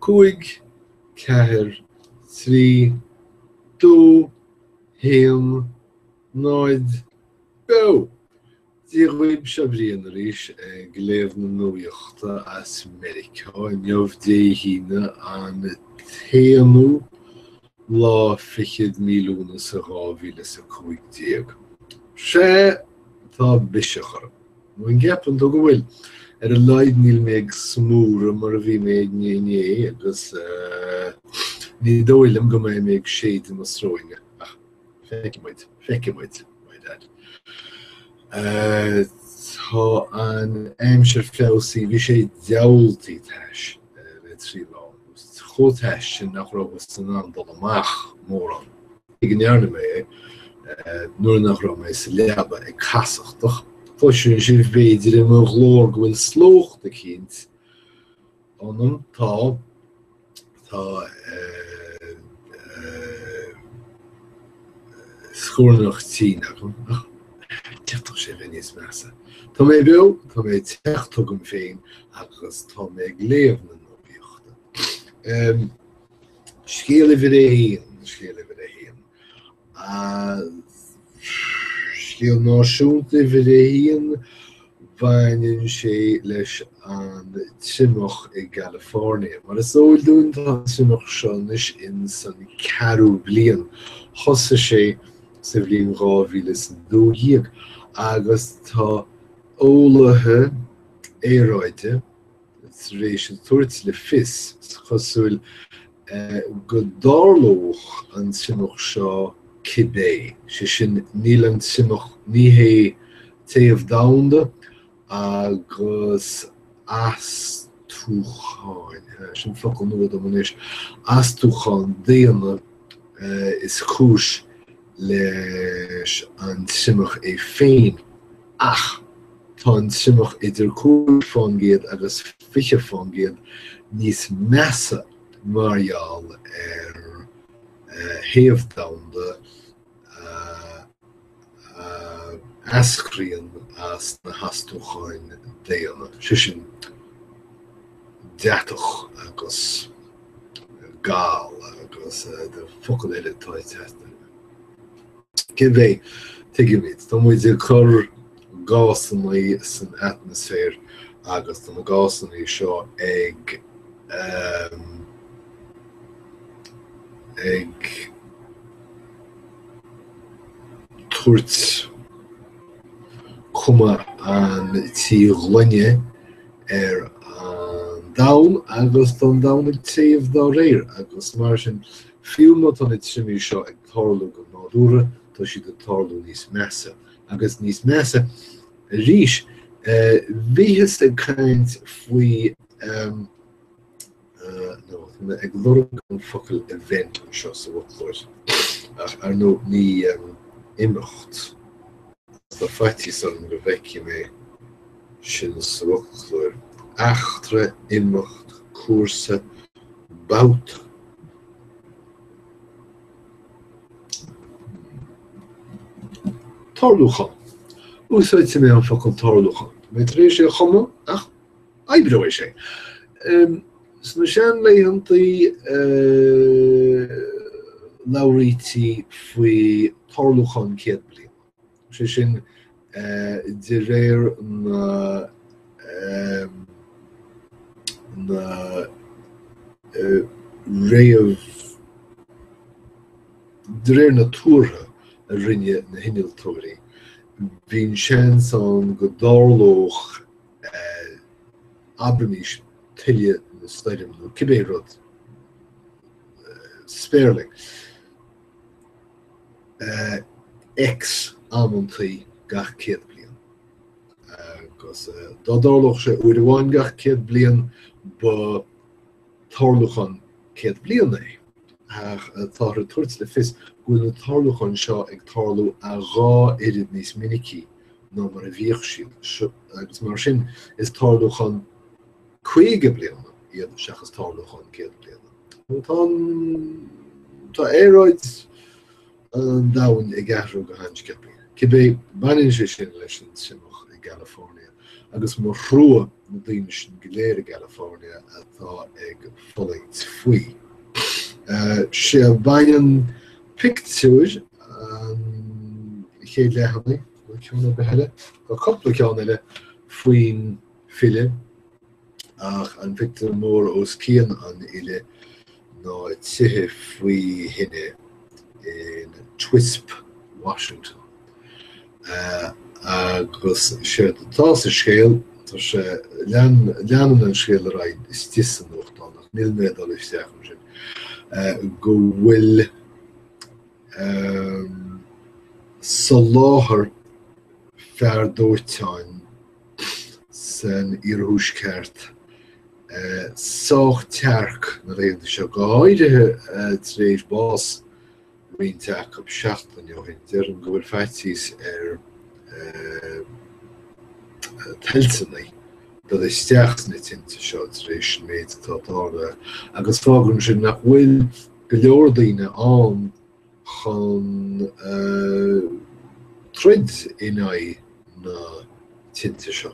Cúig, ceathair, trí, dó, haon, náid, beo! Dia dhaoib seo Brian arís ag léamh na nuaíochta as Meiriceá inniu Dé hAoine an t-aonú lá fichead mí Lúnasa dhá mhíle is a cúig déag. Sea, tá biseach orm. Nó an gceapann tú go bhfuil? Ar a laghad níl mé ag smúradh mar a bhí mé inné agus ní dóigh liom go mbeidh mé ag séideadh na sróine ach feicfidh muid, feicfidh muid, by dad. Tá an aimsir feabhsaithe, bhí sé diabhaltaí tais le trí lá, chomh tais sin nach rabhthas in ann dul amach mórán. Cé go ndearna mé é nuair nach raibh mé sa leaba ag casachtach. Cloiseann sibh b'fhéidir i mo ghlór go bhfuil slócht eicínt ionam. Tá. Tá scornach tinn agam ach d'fhéadfadh sé a bheith níos measa. Tá mé beo, tá mé ag teacht chugam féin agus tá mé ag léamh na nuaíochta. Scéal uimhir a haon, scéal uimhir a haon. Scéal náisiúnta uimhir a haon, baineann sé leis an triomach i gCalifornia. Mar is eol dúinn tá an triomach seo anois in san ceathrú bliain. Thosaigh sé sa bhliain 2012 agus tá eolaithe aeráide, tar éis a tabhairt le fios, is cosúil, go dtarlódh an triomach seo cibé, sé sin níl an triomach, ní hé téamh domhanda agus astúcháin, sin focal nua dom anois, astúcháin daonna is cúis leis an triomach é féin, ach tá an triomach idir cúig fán gcéad agus fiche fán gcéad níos measa mar gheall ar théamh domhanda a eascraíonn as na hastúcháin daonna, sé sin deatach agus Gal agus de focal eile atá ag teacht orm. Cibé. Tuigimid. Tá muid ag cur gásanna san atmaisféar agus tá na gásanna seo ag ag tabhairt cuma an tí ghloine ar an domhan agus tá an domhan ag téamh dá réir agus mar sin fiú má tá na triomaigh seo ag tarlú go nádúrtha tá siad ag tarlú níos measa agus níos measa arís. Bhíothas ag caint faoi tá mé ag lorg an focal event anseo sa bhfoclóir, ach ar ndóigh ní imeacht tá faitíos orm go bhfeicfidh mé sin sa bhfoclóir, eachtra, imeacht, cúrsa, babhta. Tarlúchán, Úsáidfidh mé an focal tarlúchán tá mé tar éis é a chumadh ach. Oibreoidh sé sna seanlaethanta, labhraítí faoi tarlúchán céad bliana, sé sin de réir na réamh, de réir na tuartha a rinne na hinnealtóirí, bíonn seans ann go dtarlódh abraimis tuile nó stoirm nó cibé rud spéirling. X amanntaí gach céad bliain. Agus dá dtarlódh sé uair amháin gach céad bliain ba tarlúchán céad bliain é. ach táthar ag tabhairt le fios go bhfuil na tarlúcháin seo ag tarlú a dhá oiread níos minicí ná mar a bhíodh siad, agus mar sin is tarlúchán caoga bliana iad seachas tarlúchán céad bliana. Tá aeráid. an domhain ag athrú go han-sciobtha. Cibé, baineann sé sin leis an triomach i gCalifornia agus mo thrua na daoine sin go léir i gCalifornia atá ag fulaingt faoi. Sea, baineann pictiúir an chéad leathanaigh, nó ceann ar bith eile, nó cúpla ceann eile faoin filleadh, ach an phictiúr mór os cionn an fhilleadh ná tithe faoi thine in Twisp, Washington. Agus séard atá sa scéal, tá sé, leanann an scéal ar aghaidh istigh sa nuachtán, ach níl mé ag dul isteach ansin, go bhfuil soláthar fear dóiteáin san iarthuaisceart, sách tearc na laethanta seo, go háirithe tar éis bás roinnt acu seachtain ó shin. Deirim go bhfuil faitíos ar toilteanaigh dul isteach sna tinte seo tar éis an méid atá tarlaithe agus fágann sin nach bhfuil go leor daoine ann chun troid in aghaidh na tinte seo.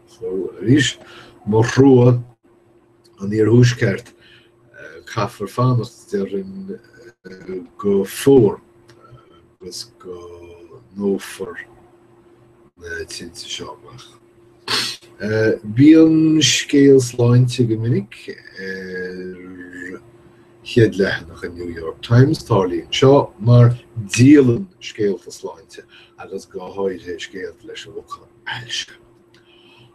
So arís, mo thrua an Iarthuaisceart, caithfear fanacht déarfainn go fómhar agus go ndófar na tinte seo amach. Bíonn scéal sláinte go minic ar. chéad leathanach an New York Times, tarlaíonn seo mar díolann scéalta sláinte agus go háirithe scéalta leis an bhfocal ailse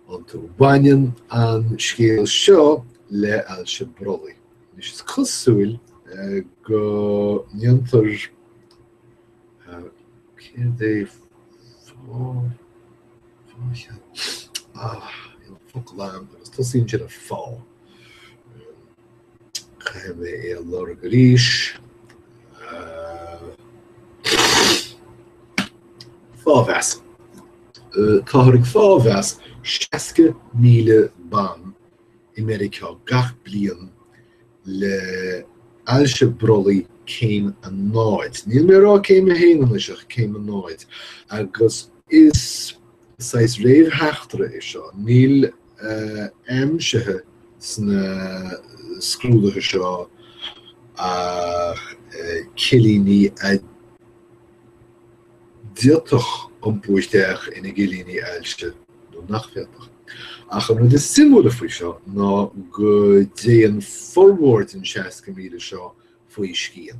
iontu. Baineann an scéal seo le ailse brollaigh. Is is cosúil eh, go ndéantar eh, céard é an focal agus tosaíonn sin ar fá. Caithfidh mé é a lorg arís. Fáthmheas. Táthar ag fáthmheas 60,000 ban i Meiriceá gach bliain le ailse brollaigh céim a náid. Níl mé ag rá céim a haon anois ach céim a náid. Agus is saghas réamhtheachtaire é seo. Níl aimsithe sna scrúduithe seo ach cillíní a d'fhéadfadh iompú isteach ina gcillíní ailse nó nach bhféadfadh. Ach an rud is suimiúla faoi seo ná go dtéann formhór den 60,000 seo faoi scian.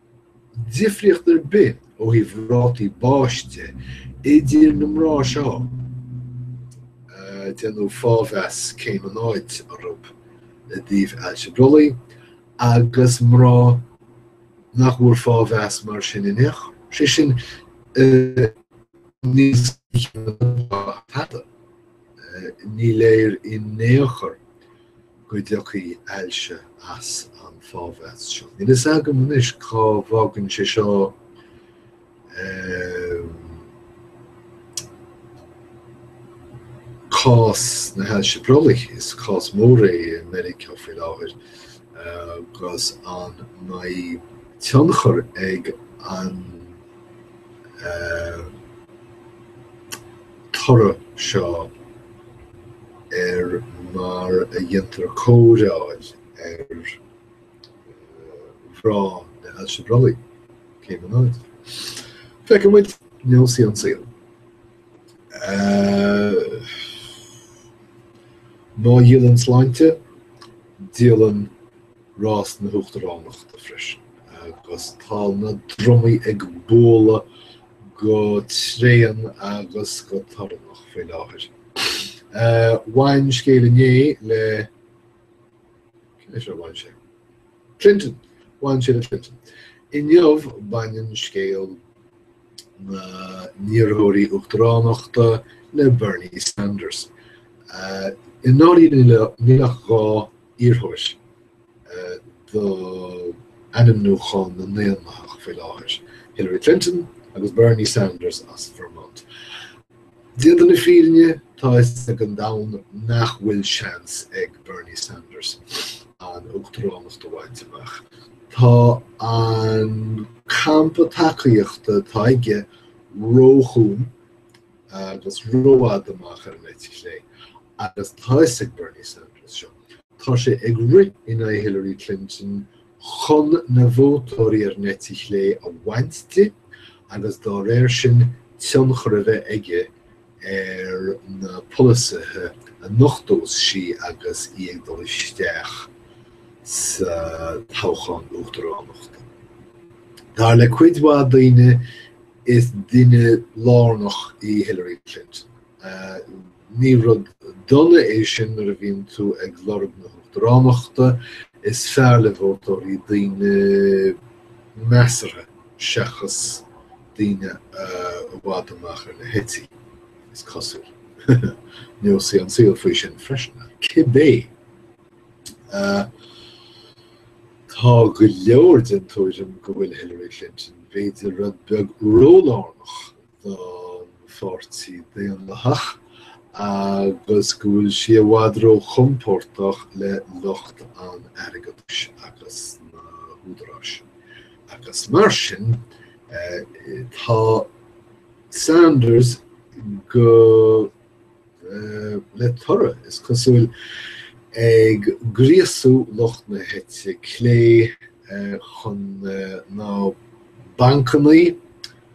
difríocht ar bith ó thaobh rátaí báis de idir na mná seo. Déanadh fáthmheas céim a náid orthu i dtaobh ailse brollaigh agus mná nach bhfuair fáthmheas mar sin in aon chor, sé sin, níos ísle ná an dá pheata. Ní léir in aon chor go dtiocfaidh ailse as an fáthmheas seo. Níl fhios agam anois cá bhfágann sé seo cás na hailse brollaigh, is cás mór é i Meiriceá faoi láthair agus an mbeidh tionchar ag an toradh seo ar mar a dhéantar cóireáil ar mhná na hailse brollaí, cé go mbeidh. Feicfidh muid neosfaidh an saol. Má dhíolann sláinte, díolann. rás na hUachtaránachta freisin agus tá na drumaí ag bualadh go tréan agus go torannach faoi láthair. Bhain scéal inné le cé leis a bhain sé? Clinton! Bhain sé le Clinton. Inniu baineann scéal na n-iarrthóirí Uachtaránachta le Bernie Sanders. I ndáiríre níl ach dhá iarrthóir do ainmniúchán na nDaonlathach faoi láthair, Hillary Clinton agus Bernie Sanders as Vermont. Déanta na fírinne, tá fhios ag an domhan nach bhfuil seans ag Bernie Sanders an uachtaránacht a bhaint amach. Tá an campa tacaíochta atá aige róchúng agus rófhada amach ar an eite chlé. agus tá fhios ag Bernie Sanders seo, tá sé ag rith in aghaidh Hillary Clinton chun na vótóirí ar an eite chlé a bhaint di agus dá réir sin tionchar a bheith aige ar na polasaithe a nochtós sí agus í ag dul isteach sa toghchán uachtaránachta. Dar le cuid mhaith daoine is duine lárnach í Hillary Clinton. Ní rud dona é sin nuair a bhíonn tú ag lorg na huachtaránachta, is fearr le vótóirí daoine measartha seachas daoine i bhfad amach ar na heití, is cosúil. Neosfaidh an saol faoi sin freisin. Cibé, tá go leor den tuairim go bhfuil Hillary Clinton b'fhéidir rud beag rólárnach don Pháirtí Daonlathach agus go bhfuil sí i bhfad róchompordach le lucht an airgeadais agus na húdaráis agus mar sin tá Sanders go le toradh is cosúil ag gríosú lucht na heite clé chun na bancannaí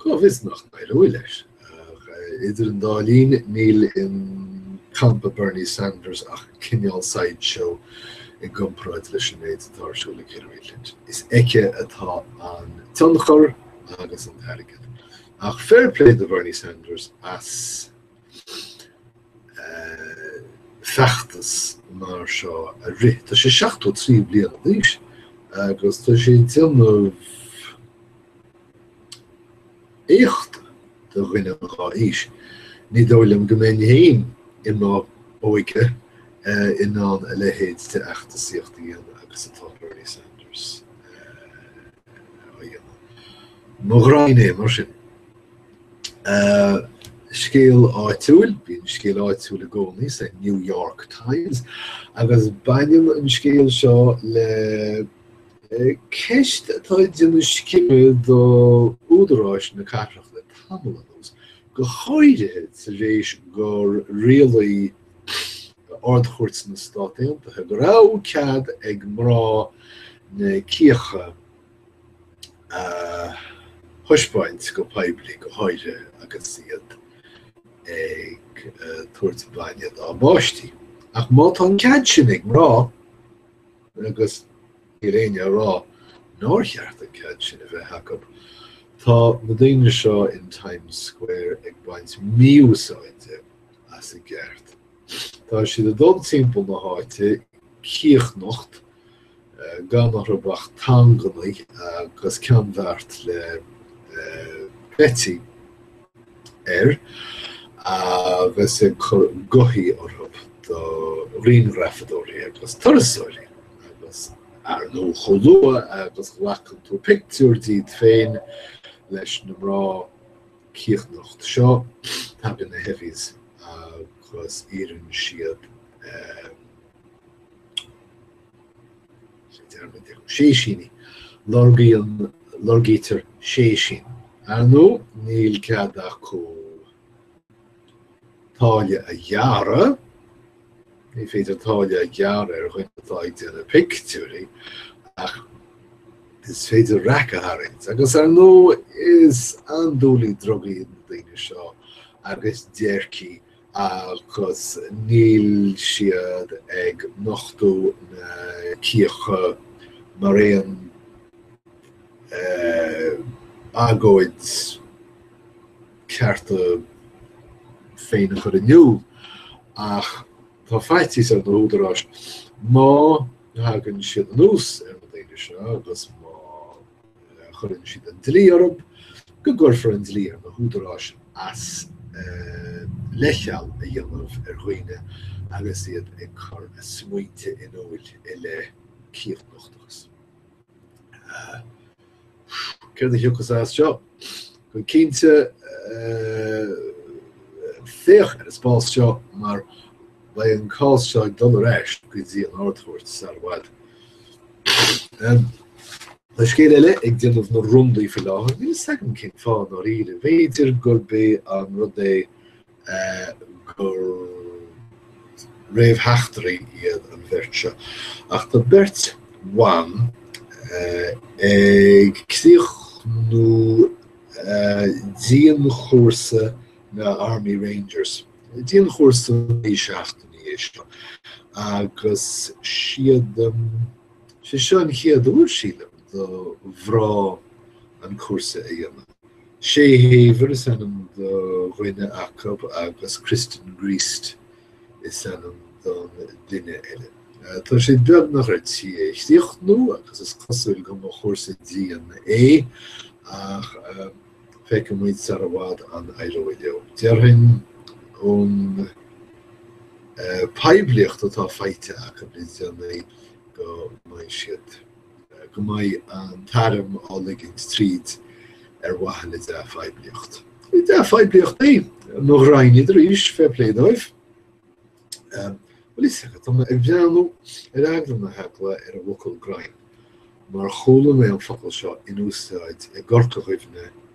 Cá bhfios nach n-éireoidh leis. Ach idir an dá linn, níl i gcampa Bernie Sanders ach cineál sideshow i gcomparáid leis an méid atá ar siúl ag Hillary Clinton. Is aici atá an tionchar agus an t-airgead. Ach fair play do Bhernie Sanders as feachtas mar seo a rith. Tá sé 73 bliana d'aois agus tá sé ag déanamh éachta do dhuine dhá aois. Ní dóigh liom go mbeinn féin i mo óige in ann a leithéid de fheachtasaíocht a dhéanamh agus atá Bernie Sanders á dhéanamh. Mo ghraidhin é, mar sin. Scéal áitiúil, Bíonn scéal áitiúil i gcónaí sa New York Times agus baineann an scéal seo le ceist atá ag déanamh scime do údaráis na cathrach le tamall anuas, go háirithe tar éis gur rialaigh Ard-Chúirt na Stát Aontaithe go raibh cead ag mná na cíocha a thaispeáint go poiblí, go háirithe agus iad ag tabhairt bainne dá bpáistí. Ach má tá an cead sin ag mná agus níl éinne a rá nár cheart an cead sin a bheith acu, tá na daoine seo in Times Square ag baint míúsáide as a gceart. Tá siad a dul timpeall na háite cíochnocht gan orthu ach thongannaí agus ceannbheart le cleití air agus ag cur gothaí orthu do ghrianghrafadóirí agus turasóirí agus ar ndóigh chomh luath agus ghlacann tú pictiúr díot féin leis na mná cíochnocht seo tagann na heavies agus iarrann siad Séisíní, Lorgaítear séisín. Ar ndóigh, níl cead acu táille a ghearradh. Ní féidir táille a ghearradh ar dhuine atá ag déanamh pictiúirí ach is féidir raic a tharraingt. Agus ar ndóigh, is andúiligh drugaí na daoine seo agus déircigh. agus níl siad ag nochtadh na cíocha mar aon agóid cearta féin a chur in iúl ach tá faitíos ar na húdaráis má thagann siad anuas ar na daoine seo agus má chuireann siad an dlí orthub go gcuirfear an dlí ar na húdaráis as leithcheal a dhéanamh ar dhaoine agus iad ag cur a smaointe in iúil i leith cíochnochtachais. Céard a thiocfas as seo? Go cinnte, féach ar an spás seo mar beidh an cás seo ag dul ar ais go dtí an Ard-Chúirt sar i bhfad. Tá scéal eile ag déanamh na roundaí faoi láthair. Níl a fhios agam cén fáth, really, b'fhéidir gurb é an rud é gur réamhtheachtairí iad an bheirt seo ach tá beirt bhan ag críochnú dianchúrsa na Army Rangers. Dianchúrsa naoi seachtainí é seo agus sílim sé seo an chéad uair sílim do mhná an cúrsa a dhéanamh. Shaye Haver is ainm do dhuine acub agus Kristen Griest is ainm don duine eile. Tá siad beagnach ar tí é a chríochnú agus is cosúil go mba chúrsa dian é ach feicfidh muid sar i bhfad an éireoidh leo. Déarfainn ón poiblíocht atá faighte acub le déanaí go mbeidh siad. go mbeidh an t-arm á ligint tríd ar mhaithe le dea-phoiblíocht. Is dea-phoiblíocht é mo ghraidhin iad arís, fair play dóibh. Bhuel, is ea, tá mé ag breathnú ar eagla na heagla ar an bhfocal 'graidhin' mar chuala mé an focal seo in úsáid i gCorca Dhuibhne,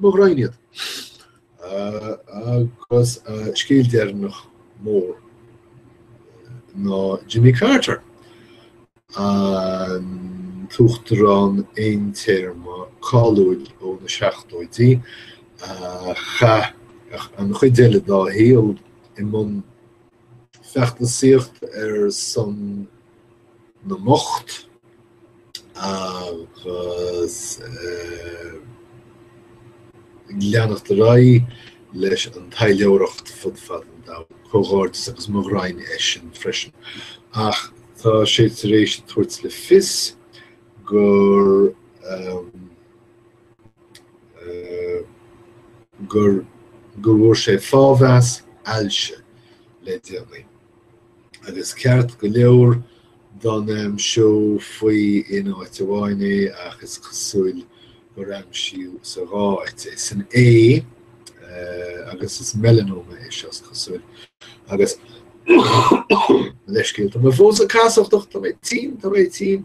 mo ghraidhin iad agus scéal deireanach mór ná Jimmy Carter, an tUachtarán aontéarma cáiliúil ó na seachtóidí, a chaith an chuid eile dá shaol i mbun feachtasaíocht ar son na mbocht agus ag leanacht ar aghaidh leis an taidhleoireacht fud fad an domhain, comhghairdeas agus mo ghraidhin é sin freisin. Ach tá sé tar éis tabhairt le fios gur gur go bhfuair sé fáthmheas ailse le déanaí agus ceart go leor don am seo faoi in áit amháin í ach is cosúil gur aimsíodh sa dá áit í. San ae agus is melanoma é seo is cosúil agus gabh mo leithscéal. Tá mé fós ag casachtach, tá mé tinn, tá mé tinn.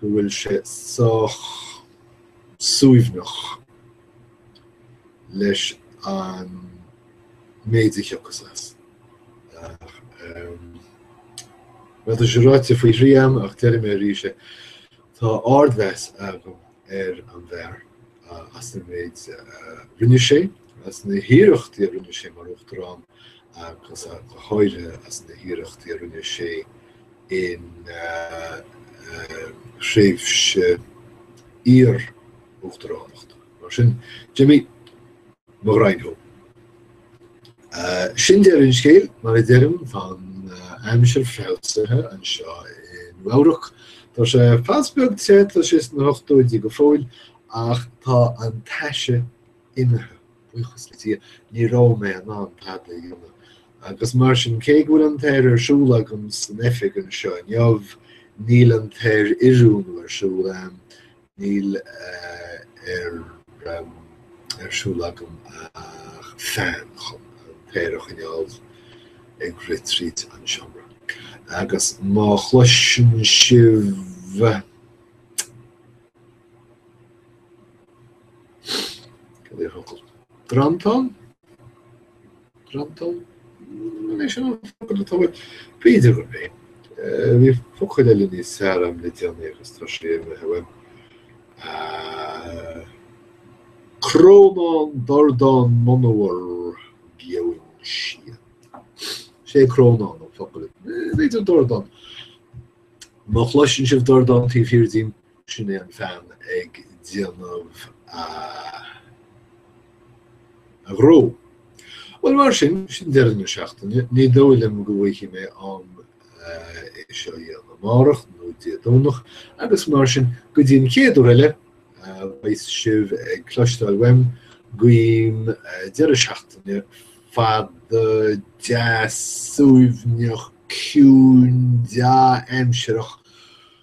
go bhfuil sé sách suaimhneach leis an méid a thiocfas as. Bhuel tá sé ráite faoi thrí agam ach déarfaidh mé arís é, tá ardmheas agam ar an bhfear. as an méid a rinne sé, as na hiarrachtaí a rinne sé mar Uachtarán agus go háirithe as na hiarrachtaí a rinne sé ina thréimhse iar-Uachtaránacht. Mar sin, Jimmy, mo ghraidhin thú. Sin deireadh an scéal, mar a deirim, tá an aimsir feabhsaithe anseo i Nua-Eabhrac. Tá sé pas beag te, tá sé sna hochtóidí go fóill ach tá an taise imithe, buíochas le Dia. Ní raibh mé in ann tada a dhéanamh agus mar sin, cé go bhfuil an t-aer ar siúl agam san oifig anseo inniu, níl an t-aeroiriúnú ar siúl ann Níl ar siúl agam ach fean chun an t-aer a choinneáil ag rith tríd an seomra. Agus má chloiseann sibh Cad é an focal? Drantán? Drantán? An é sin an focal atá uaim? B'fhéidir gurb é. Bhí focal eile níos fearr agam le déanaí agus tá sé imithe uaim. Crónán dordán monabhar geoin sian. Sé crónán an focal. B'fhéidir dordán. Má chloiseann sibh dordán taobh thiar dínn, Sin é an fean ag déanamh a ghnó. Bhuel mar sin, sin deireadh na seachtaine. Ní dóigh liom go bhfaighidh mé am é seo a dhéanamh amárach nó Dé Domhnach agus mar sin go dtí an chéad uair eile a bheas sibh ag cloisteáil uaim guím deireadh seachtaine fada, deas, suaimhneach, ciúin, dea-aimsireach